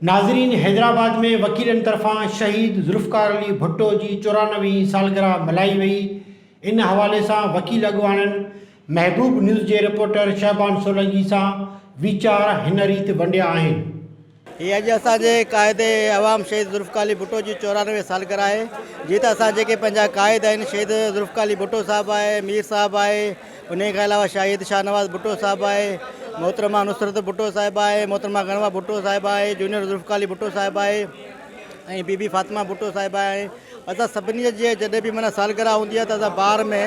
ناظرين حيدرآباد ۾ وڪيلن طرفان شهيد ذوالفقار علي ڀٽو جي چورانوي هين سالگرهه ملهائي وئي ان حوالي سان وڪيل اڳواڻن محبوب نيوز جي رپورٽر شهبان سولنگي سان ويچار هن ريت ونڊيا آهن. هي اڄ اسان جي قائد عوام شهيد ذوالفقار علي ڀٽو جي چورانوي سالگرهه آهي جي ته اسان جيڪي پنهنجا قائد آهن شهيد ذوالفقار علي ڀٽو صاحب آهي مير صاحب آهي ان کان علاوه شاهد شاهنواز ڀٽو صاحب آهي محترمه نصرت ڀٽو صاحب آهي محترمه گنوا ڀٽو صاحب آهي جونيئر ذوالفقار علي ڀٽو صاحب آهي ۽ بي بي فاطمه ڀٽو صاحب آهي اسان سڀني جي جڏهن به مانا سالگرهه هوندي آهي ته اسان بار ۾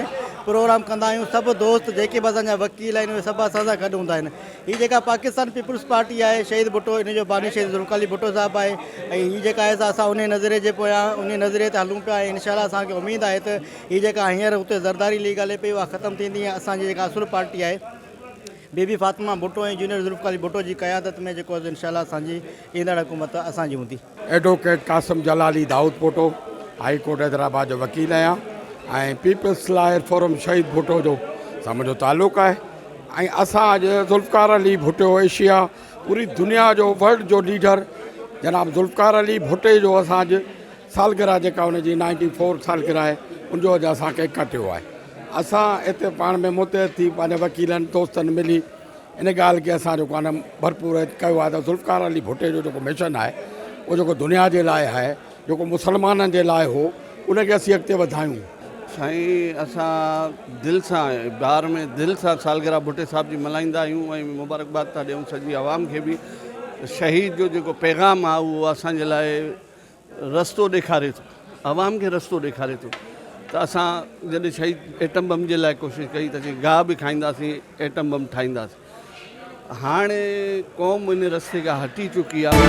پروگرام ڪندا آهيون سڀ دوست جيڪي به اسان جا وڪيل آهن اهي سڀ اسان سان گڏ هوندا آهن هي جيڪا پاڪستان پيپلز پارٽي آهي شهيد ڀٽو ان جو باني شهيد ذوالفقار ڀٽو صاحب آهي ۽ هي جيڪا آهي اسان ان نظريي جي پويان ان نظريي تي هلون پيا ۽ انشاء الله اسان کي اميد آهي ته هي جيڪا هينئر هتي زرداري ليگ هلي پئي اها ختم ٿيندي ۽ اسان جي جيڪا اصل پارٽي آهي بي بي فاطمه ڀٽو ۽ جونيئر ذوالفقار ڀٽو جي قيادت ۾ جيڪو انشاء الله اسان جي ايندڙ حڪومت اسان جي هوندي advocate Qasim Jalali Daudpoto high court Hyderabad جو وڪيل آهيان ۽ پيپلز لائر فورم شهيد ڀٽو جو سان منهنجو تعلق آهي ۽ اسان اڄ ذوالفقار علي ڀٽو ايشيا پوري دنيا جو ورلڊ جو ليڊر جناب ذوالفقار علي ڀٽي جو اسان اڄ سالگرهه جيڪا ان جي نائنٽي فور سالگرهه آهي ان جو اڄ اسان کي ڪٽيو آهي اسان هتي پاڻ ۾ متحد ٿي پنهنجا وڪيلن دوستن ملي ان ڳالهه کي اسان جيڪو آهي نه ڀرپور ڪيو آهي ته ذوالفقار علي ڀٽي جو جيڪو مشن آهي اهو جيڪو دنيا جي لاء آهي جيڪو مسلمانن جي لاء هو ان کي اسين اڳتي وڌايون. سائين اسان دل سان بهار ۾ دل سان سالگرهه ڀٽي صاحب جي ملهائيندا آهيون ۽ مبارڪباد ٿا ڏيون سڄي عوام کي به شهيد جو جيڪو پيغام آهي اهو اسان جي لاء رستو ڏيکاري ٿو عوام کي رستو ڏيکاري ٿو ته اسان جڏهن شهيد ايٽم بم جي لاء ڪوشش ڪئي ته اسين گاهه به کائينداسين ايٽم بم ٺاهينداسين هاڻي قوم ان رستي کان هٽي چڪي آهي